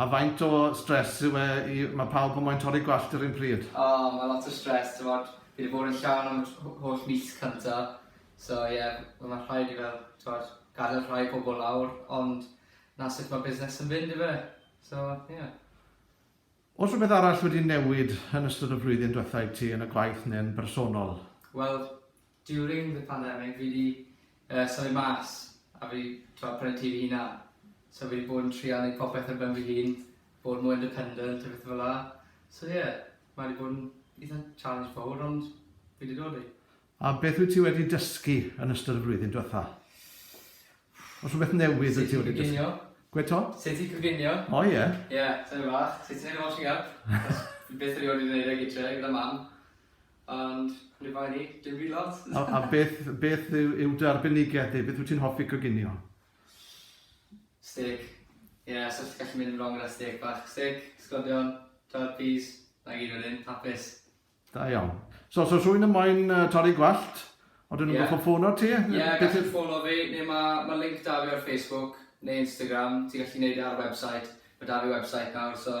A faint o stress yw e i... ma' pawb yn moyn torri gwallt yr un pryd? O, ma' lot o stress, t'mod, fi 'di bod yn llawn am y tr- ho- holl mis cynta, so ie, wel ma' rhaid i fel, t'mod, gadel rhai pobol lawr, ond 'na sut ma' busnes yn fynd yfe, so ie. O's rwbeth arall wedi newid yn ystod y flwyddyn dwetha i ti yn y gwaith ne'n bersonol? Wel, During the pandemic fi 'di yy symud mas a fi t'o' prynu tŷ fy hunan. So fi 'di bod yn trial neud popeth ar ben fy hun, bod mwy independent a pethe fela. So ie, mae 'di bod yn itha challenge fowr ond fi 'di dod i. A beth wyt ti wedi dysgu yn ystod y flwyddyn dwetha? O's rhwbeth newydd wyt ti wedi dysgu? Sut i coginio. Gwe' 'to? Sut i coginio. O ie. Ie, tymed bach. Sut i neud y washing up. Achos fi byth erioed wedi neud e gytre gyda mam. Ond, ni bai ni, dim byd lot! A, a beth, beth yw, yw dy arbenigedd di? Beth wyt ti'n hoffi coginio? Steak. Ie, yeah, so ti'n gallu mynd yn wrong gyda steak bach. Steak, sglodion, twod, peas, na gyd wedyn, hapus. Da iawn. So, so rhywun yn moyn uh, torri gwallt, o dyn nhw'n yeah. goffo ffono ti? Ie, yeah, gallu ffono fi, neu mae ma link da fi ar Facebook, neu Instagram, ti'n gallu neud e ar website, mae da fi website nawr, so